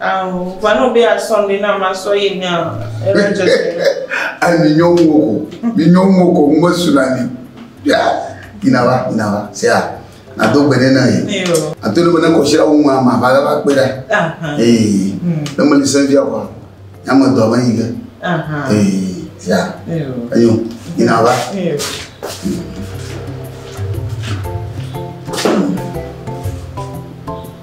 Ao, va no be a sɔm ɖi na ma sɔ yi nya ere dze se na. Ai mi nyɔ ŋu wo ko, mi nyɔ ŋu wo ko, ŋu me su na ni. Ya, yi na va, yi na va, se ya, na do gbe ne na yi. Eyo. A to ne me ne kɔsi la wu ma ma va la va kpe la. Aha. Ee, ne me li se via kwa, ya me do ame yi ke. Aha. Ee, se ya. Eyo. Eyo, yi na va. Eyo. Mm.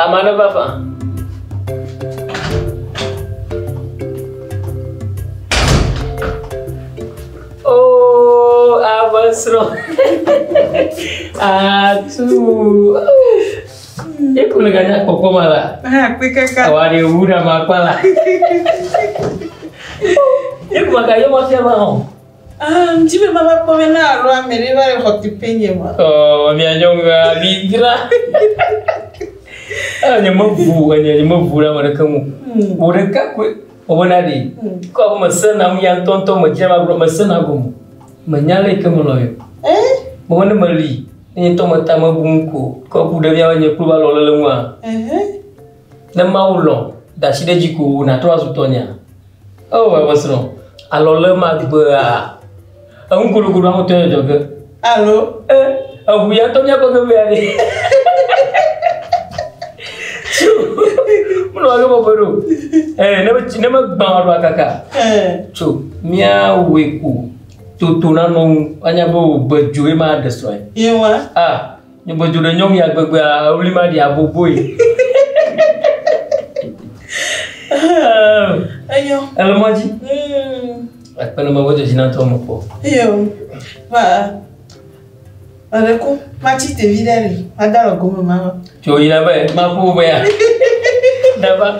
Ame aɖe va fa. Oh, ame srɔ̃. Atu. Eku le ganya kpɔkpɔ ma la. Ha, kpe kaka. Awa ɖe wu ɖe ma kpa la. Eku ma ka yɔ ma fia ma hɔn. Ah, mdi be mava kpɔ be na alo ame ɖe va le xɔ teƒe nye ma. Oh, mia nyɔnua mi dra. Eh, nye mebu enye nye mebu ɖe ame ɖeke ŋu. Hmm. Wò ɖeka koe wòbena ɖi. Hmm. Kɔ abe mesena nu ya ŋutɔŋutɔ medzra magblɔ mesena gome. Menya lɛ ke melɔ yɔ. Eh? Mɔme ne meli enye ŋutɔ meta mebu ŋu ko. Kɔ ku ɖe mía be nye kplu va lɔ le le ŋua. Eh. Ne Mawu lɔ̃, da asi ɖe edzi ko wò nàtrɔ azu tɔnyea? Oo, ewe srɔ̃, alɔlemagbea, enu gologoɖoa ŋutɔe le dzɔ ge. Alo, e, eŋu ya ŋutɔ míakpɔ ge mea ɖe. Tso, menɔ age bɔbɔe ɖo. Ee, ne ne megbã wò aɖo akaka. Tso, míawɔe ko toto nanɔ ŋu, woanya be wò gbe dzo ye maɖe srɔ̃e. Yewa. A. Nyɔgbɔdzo ɖe nyɔm ya gbegbea, ewli maɖi aboboe. Enyo. Ele mɔ dzi. Ekpe ne mewɔ dzedzi na tɔ me kpɔ. Iyo. Ma Mare ko matsi tevi ɖe li, mada le gome mama. Tso yina be maƒo be ya. Dava.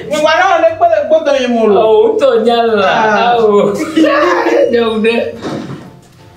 Nyigba na ɔne kpe le gbɔdɔ yi mo lo. O tɔ nya la. Ah. Awo. Nyɔm ɖe.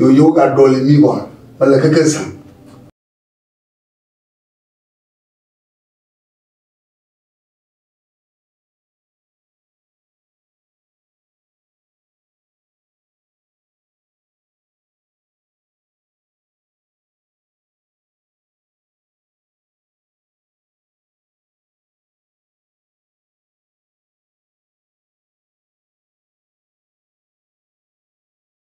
Yoyo gaɖɔli mí wa mele keke zã.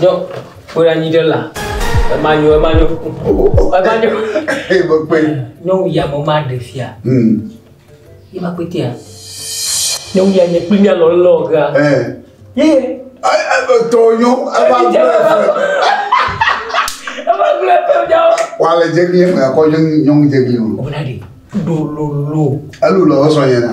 Nyɔ, kpɔɖe anyi ɖe la. Ema nyo, ema nyo. Ema nyo. Ee, me kpe. Nyɔnu ya me ma ɖe fia. Hmm. Ye ma kpete ya. Nyɔnu ya nye kpli mia lɔ lɔ ga. Eh. Ye. Ai, ai, tɔ nyo. Ema gblɔ efe. Ema gblɔ efe nyawo. Wa le jegli eme akɔ nyɔnu jegli o. Ɔbɛna de. Ɖo lolo. Elu lɔ sɔ yena.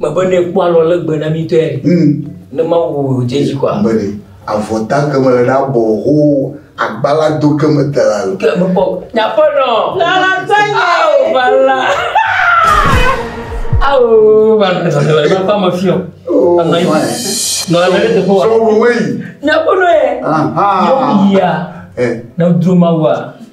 Mebe ne ekpɔ alɔ legbe na mi tɔe mm. ne Mawu wò dze dzi kɔa. Mebe ne avɔ ta ke mele na bɔ ho agbala do ke me te la. Ke me bɔ nyaƒe nɔ. Lala tɛ nye o bala. Awo bala ne sɔsɔ le ma ma fiɔ. Oh, nɔ anyi. Nɔ anyi le teƒe wa. Sɔ wo wei. Nyaƒe nɔ ye. Aha. Yɔ mi ya. Eh. Nɔ dro ma wa.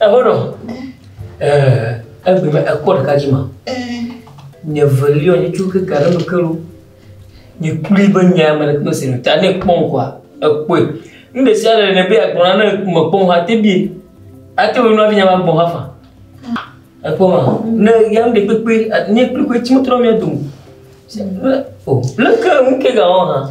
Ehono. Egbe me ekpɔ ɖeka dzi ma. Nye velio nye tso ke gare me kero. Nye kuli be nye ame ɖe kpe sinu ta ne kpɔn kwa ekpɔe. Nu ɖe sia ɖe ne be agbɔna ne me kpɔn ha te bi. Ate wo nua vinya ma gbɔn ha fa. Ekpɔ ma. Ne ya me kpe kpe nye kpe kpe tsi mo tro mi dum. Le ke mu ke ga wa ha.